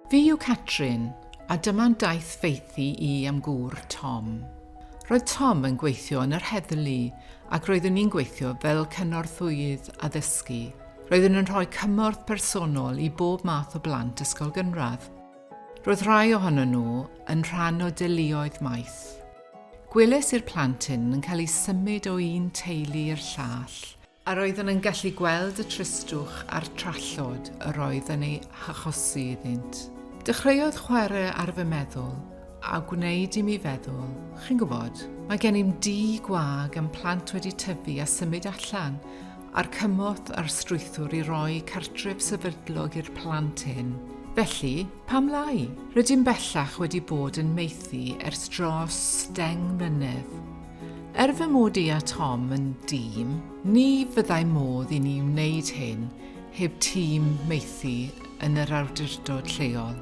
Fi yw Catrin, a dyma'n daith feithi i am gŵr Tom. Roedd Tom yn gweithio yn yr heddlu ac roeddwn ni'n gweithio fel cynorthwyydd addysgu. Roeddwn yn rhoi cymorth personol i bob math o blant ysgol gynradd. Roedd rhai ohono nhw yn rhan o deuluoedd maith. Gwelais i'r plant hyn yn cael eu symud o un teulu i'r llall, a roeddwn yn gallu gweld y tristwch a'r trallod yr oedd yn ei hachosi iddynt. Dechreuodd chwarae ar fy meddwl, a gwneud i mi feddwl, chi'n gwybod, mae gennym dŷ gwag a'm plant wedi tyfu a symud allan, a'r cymorth a'r strwythur i roi cartref sefydlog i'r plant hyn. Felly, Pam lai? Rydym bellach wedi bod yn maethu ers dros deng mlynedd. Er fy mod i a Tom yn dîm, ni fyddai modd i ni wneud hyn heb tîm maethu yn yr awdurdod lleol.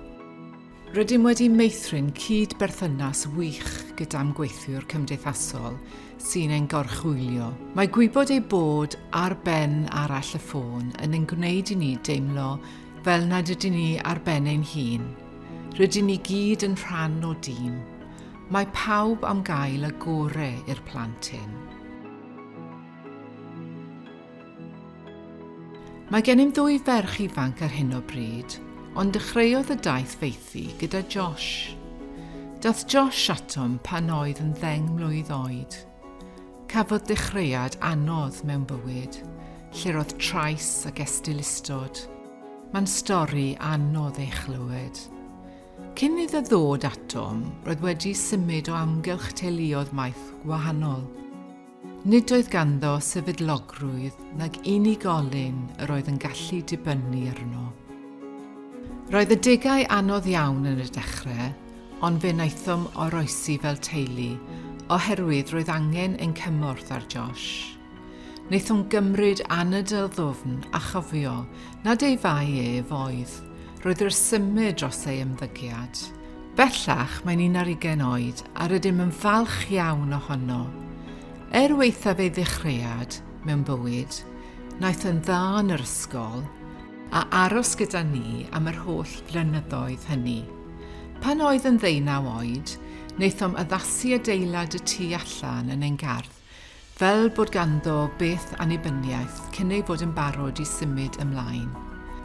Rydym wedi meithrin cyd-berthynas wych gyda'm gweithiwr cymdeithasol sy'n ein gorchwylio. Mae gwybod ei bod ar ben arall y ffôn yn ein gwneud i ni deimlo fel nad ydyn ni ar ben ein hun. Rydyn ni gyd yn rhan o dîm. Mae pawb am gael y gore i'r plant hyn. Mae gennym ddwy ferch ifanc ar hyn o bryd, ond dechreuodd y daith feithi gyda Josh. Dath Josh atom pan oedd yn ddeng mlwydd oed. Cafodd dechreuad anodd mewn bywyd, lle'r oedd trais ag estylustod. Mae'n stori anodd ei chlywed. Cyn iddo ddod atom, roedd wedi symud o amgylch teuluoedd maith wahanol. Nid oedd ganddo sefydlogrwydd nag unigolyn yr oedd yn gallu dibynnu arno. Roedd adegau anodd iawn yn y dechrau, ond fe wnaethom oroesi fel teulu oherwydd roedd angen ein cymorth ar Josh. Wnaethom gymryd anadl ddwfn a chofio nad ei fai ef oedd. Roedd yr symud dros ei ymddygiad. Bellach mae'n un ar ugain oed a rydym yn falch iawn ohono. Er waethaf ei ddechreuad mewn bywyd, wnaeth yn dda yn yr ysgol, a aros gyda ni am yr holl flynyddoedd hynny. Pan oedd yn ddeunaw oed, wnaethom addasu adeilad y tu allan yn ein gardd, fel bod ganddo beth annibyniaeth cyn ei fod yn barod i symud ymlaen.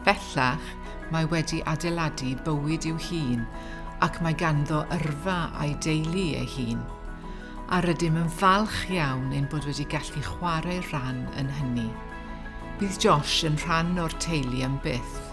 Bellach, mae wedi adeiladu bywyd i'w hun ac mae ganddo yrfa a'i deulu ei hun, a rydym yn falch iawn ein bod wedi gallu chwarae rhan yn hynny. Bydd Josh yn rhan o'r teulu am byth.